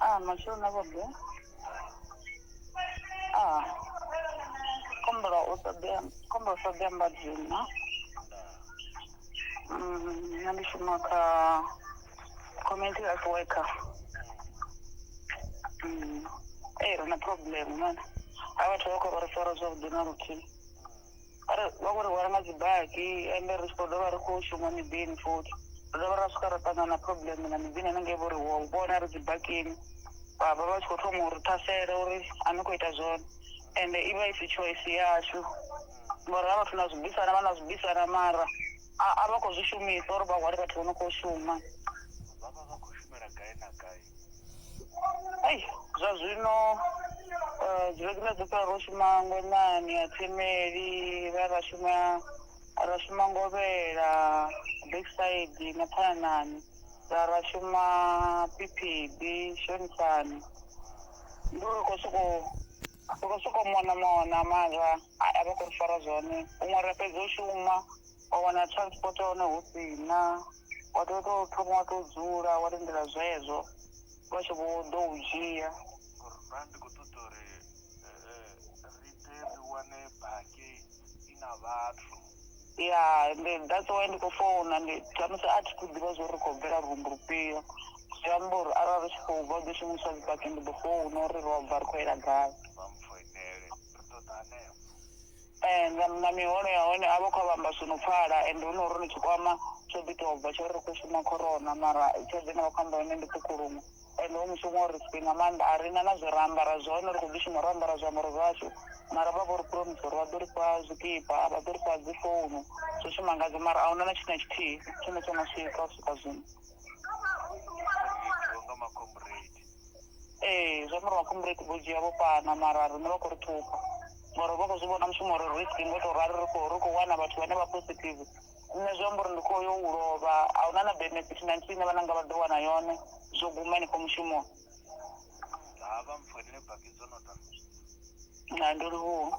Ah, mashodu na vhobe. Ah. Kombela u ṱoḓea, kombela u ṱoḓea mbadzina. Mm, nṋe ndi shuma kha community health worker. Mm. Eh, ri na problem man. Ha vhathu vha khou ri fara zwavhuḓi na luthihi. Ari vha khou ri hwala nga dzibaki ende ri tshi khou dovha ri khou shuma miḓini futhi ri dovha ra swika ra ṱangana na problem na miḓini hanengei vho ri wo vhona ri dzibakini vha vha vha tshi khou thoma uri thasela uri a ni khou ita zwone ende i vha i si choice yashu ngori ha vhathu na zwi bvisana vha na zwi bvisana mara a a vha khou zwi shumisa uri vha hwale vhathu vho no khou shuma vha vha vha khou shumela gai na gai Ai, zwa zwino eh, dziregula dzo fhela ro shuma ngwenani ya themeli ra ra shuma ra shuma ngovhela backside na phananani ra ra shuma phiphiḓi shonisani ndi uri khou sokou ri khou sokou mona mona mara a a vha khou ri fara zwone huṅwe ra fhedza u shuma wa wana transport ya hone hu si na wa tea u tou thoma wa tou dzula wa lindela zwezwo vha tshi vho ḓo u dzhia ba ndi khou ṱoḓa uri ri ḓe ri wane baki i na vhathu ya ndi that's why ndi khou founa ndi khamusi a thi khou ḓivha zwo ri khou bvela rumbu lufhio zwi amba uri arali ri tshi khou bva ḓo shumisa dzibaki ndi ḓo founa uri ro bva ri khou yela gai vha mpfoinele ri ṱoḓa hanefho Eh, nga na miholo ya hone a vha khou vhamba zwi no pfala ende hu no ri ni tshikwama tsho ḓi tou bva tsho ri ri khou shuma corona mara tshelede ine vha khou amba yone ndi ṱhukulumu ende hu mushumo uri siphi nga maanḓa a ri na na zwe ra ambara zwone ri khou ḓi shuma ro ambara zwiambaro zwashu mara vha vho ri promise uri vha ḓo ri fha zwikipa vha ḓo ri fha dzi founu zwo shuma ngadzo mara a huna na tshithu na tshithihi tshine tsho no swika u swika zwino ee zwi amba uri vhakhombo ri vho dzhia vho fhana mara riṋe vha khou ri ṱhupha ngori vha khou zwi vhona mushumo uri risk ngo tou rali ri khou ri khou wana vhathu vhane vha positive nṋe zwi amba uri ndi khou yo u lovha a huna na benefit na nthihi ine vhananga vha ḓo wana yone zwo guma henefho mushumoni havha mpfhu ene baki dzo no ḓa na ndo livhuwa